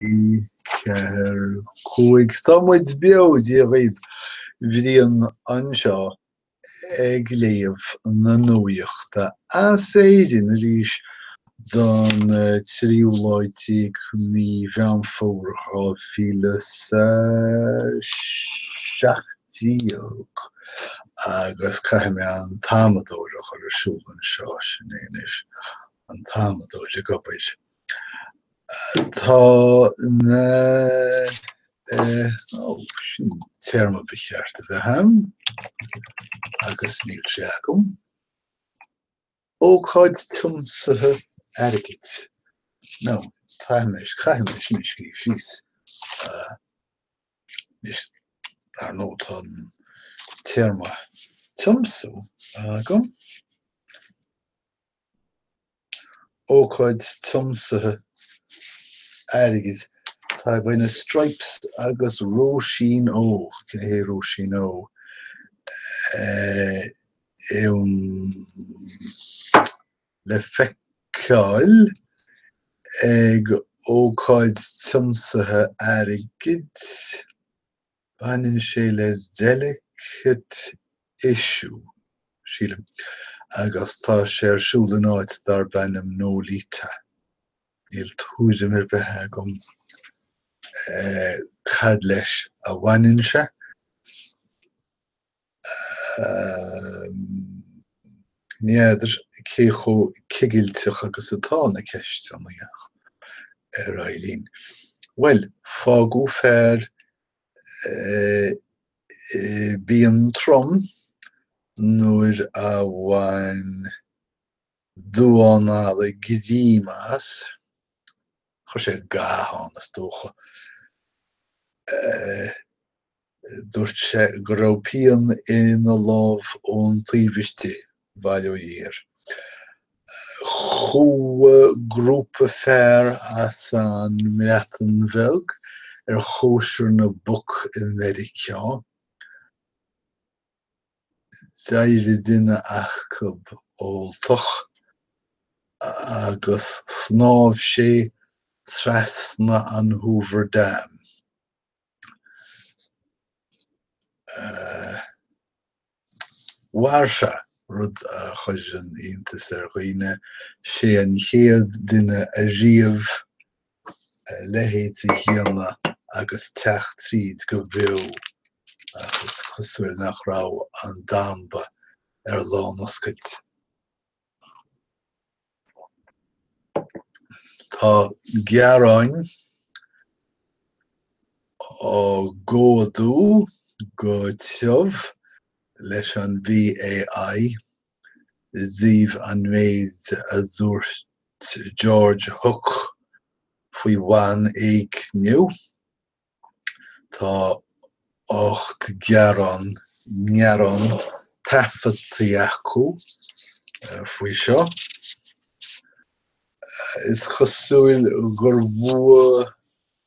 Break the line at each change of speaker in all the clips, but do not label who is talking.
4, 5 tá muid beo Dia dhaoibh Brian anseo ag léamh na nuaíochta as Éirinn arís don tríú lá déag mí Mheán Fómhair 2017 agus caithfidh mé an t-amadóir a chur ar siúl anseo, sin é anois, an t-amadóir ag obair. Tá an téarma ba cheart a bheith agam agus níl sé agam. Ócáid tiomsaithe airgid. No, caithfidh mé, caithfidh mé sin a scríobh síos. Anois, ar ndóigh, tá an téarma tiomsú agam. ócáid tiomsaithe airgid. Tá beidh na Strypes agus Róisín O. Cé hé Róisín O? ann le feiceáil ag ócáid tiomsaithe airgid. Baineann sé le delicate issue, sílim, agus tá sé ar siúl in áit darb ainm Nolita. Níl tuairim ar bith agam cad leis a bhaineann sé. Ní fheadar cé chomh cigilteach agus atá na ceisteanna, ach ar aghaidh linn. Bhuel, fágadh fear i bpian trom nuair a bhain damhán alla greim as. Chuir sé ga ann, is dócha. Dúirt sé go raibh pian ina lámh ón taobh istigh, bail ó Dhia air. Chuaigh grúpa fear as an mBreatain Bheag ar chóisir na bpoc i Meiriceá. d'éirigh duine acu óltach agus shnámh sé trasna an Hoover Dam. Mhair sé, rud a chuireann iontas ar dhaoine, sé an chéad duine ariamh leithéid de dhíle agus teacht tríd go beo, agus is cosúil nach raibh an damba ar lánoscailt. Tá gearáin á gcomhdú go tiubh leis an BAI i dtaobh an méid a dúirt George Hook faoi bhanéigniú, tá ocht gearán, ngearán taifeadta acu faoi seo. Is cosúil gur bhua.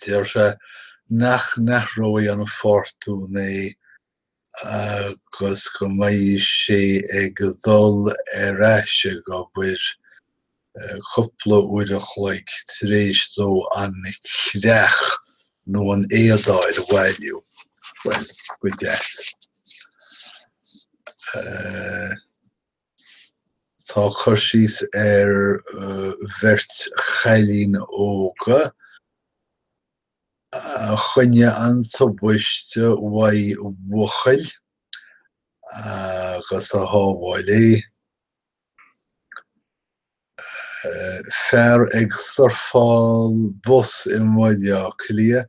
Deir sé nach n-athróidh an fórtún é agus go mbeidh sé ag dul ar ais ag obair cúpla uair a chloig tar éis dó an creach nó an éadáil a bhailiú. Bhuel, go deas. Tá cur síos ar bheirt chailín óga a choinnigh an tubaiste ó bhuachaill agus a shábháil é, fear ag surfáil bos i mBaile Átha Cliath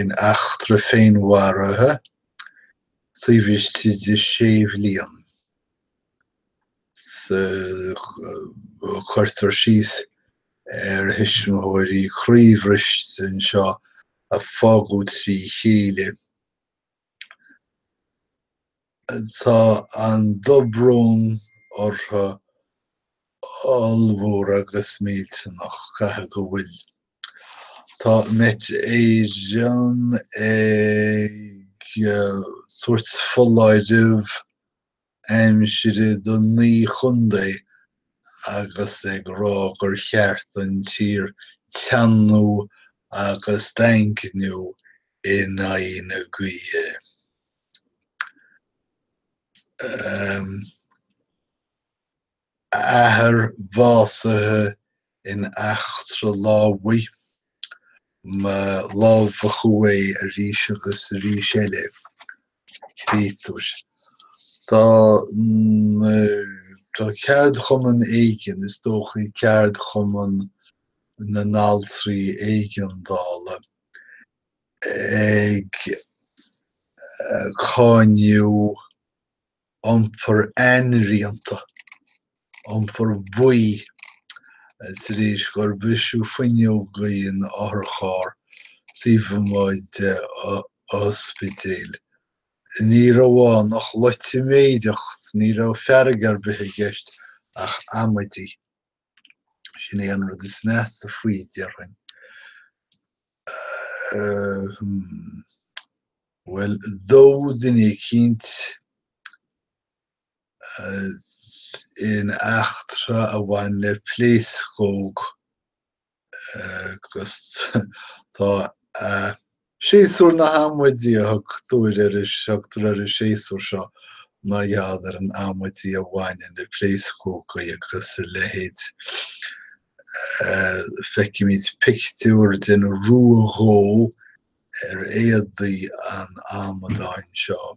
in eachtra féinmharaithe taobh istigh de sé bhliain. Cuirtear síos ar thuismitheoirí croíbhriste anseo a fágadh trína chéile. Tá an dobrón orthu ollmhór agus millteanach, caithfidh go bhfuil. Tá Met Éireann ag tabhairt foláirimh aimsire do naoi chontae agus ag rá gur cheart don tír teannú agus daingniú in aghaidh na gaoithe. a athair básaithe in eachtra lámhaigh, mar lámhachadh é arís agus arís eile, creidtear. Tá ceardchumann éigin, is dócha Ceardchumann na nAltraí Éigeandála, ag cáineadh. iompar ainriata, iompar buí, tar éis gur briseadh fuinneoga in otharcharr taobh amuigh de ospidéal. Ní raibh ann ach loitiméireacht, ní raibh fearg ar bith i gceist ach amaidí. Sin é an rud is measa faoi, déarfainn. Bhuel, dódh duine eicínt in eachtra a bhain le pléascóg agus tá a. Séasúr na hAmaidí a thugtar ar an séasúr seo mar gheall ar an amaidí a bhaineann le pléascógaí agus a leithéid. Feicimid pictiúr den ruadhó ar éadaí an amadáin seo.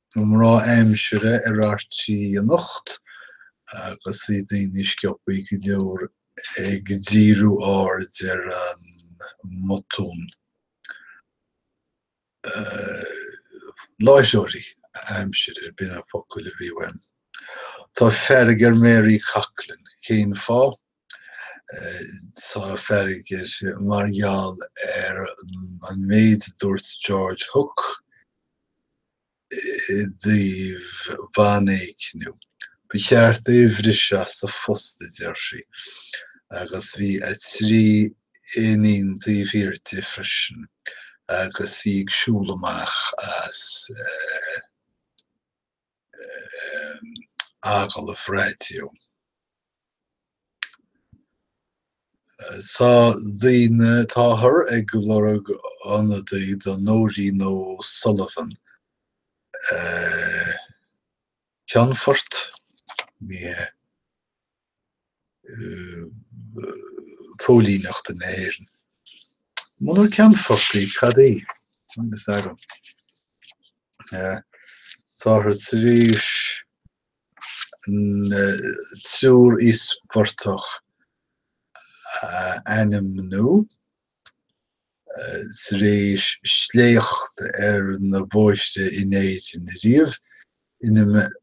na mná aimsire ar RTÉ anocht agus bhí daoine sciobtha go leor ag díriú aird ar an mbotún láithreoirí aimsire, ab iad na focail a bhí uaim. Tá fearg ar Mary Coughlan. Cén fáth? Tá fearg uirthi mar gheall ar an méid a dúirt George Hook i dtaobh banéignithe. Ba cheart é a bhriseadh as a phost, a deir sí, agus bhí a trí iníon taobh thiar di freisin agus í ag siúl amach as. agallamh raidió. Tá daoine táthar ag lorg ionadaí do Nóirín O'Sullivan, Ceannfort, ní hea, póilíneachta na hÉireann. Muna gceannfadh í cad í, agus ar an. táthar tar éis an triúr íospartach a ainmniú, tar éis sléacht ar na bóithre in Éirinn riamh, ina mbeidh.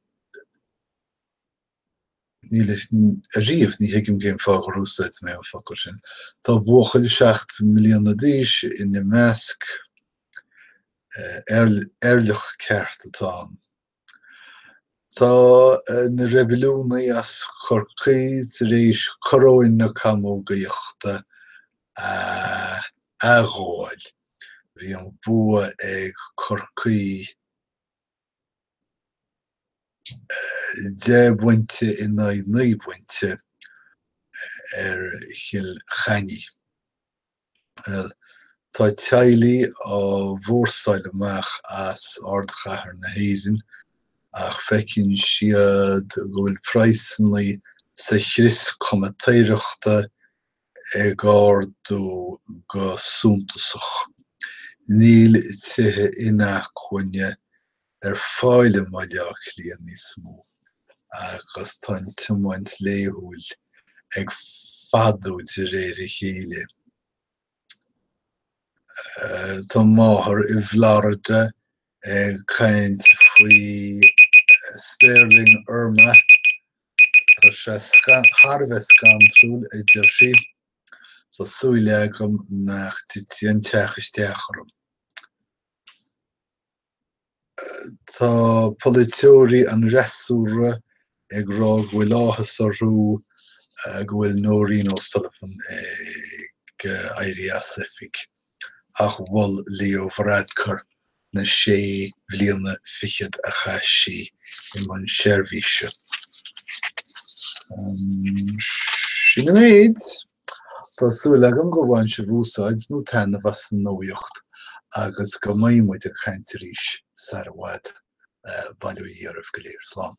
níos fearr riamh, ní thuigim cén fáth gur úsáid mé an focal sin, tá buachaill seacht mbliana d'aois ina measc, eirleach ceart atá ann. Tá na reibiliúnaigh as Chorcaí tar éis coróin na camógaíochta a athghabháil. Bhí an bua ag Corcaí. deich bpointe in aghaidh naoi bpointe ar Chill Chainnigh. Bhuel, tá teaghlaigh á mbrúsáil amach as ardchathair na hÉireann ach feiceann siad go bhfuil praghsanna sa chrios comaitéireachta ag ardú go suntasach. Níl tithe inacmhainne ar fáil i mBaile Átha Cliath níos mó agus tá an tiomáint laethúil ag fadú de réir a chéile. Tá máthair i bhFlorida ag caint faoi spéirling Irma Tá sé thar a bheith scantrúil, a deir sí. Tá súil agam nach dtitfidh an teach isteach orm. Tá polaiteoirí an fhreasúra ag rá go bhfuil áthas orthu go bhfuil Nóirín O'Sullivan ag éirí as oifig. ach mhol Leo Varadkar na sé bhliana fichead a chaith sí i mbun seirbhíse. Sin an méid. Tá súil agam go mbaineann sibh úsáid nó taitneamh as an nuaíocht agus go mbeidh muid ag caint arís sara bhfad. Bail ó Dhia oraibh go léir. Slán.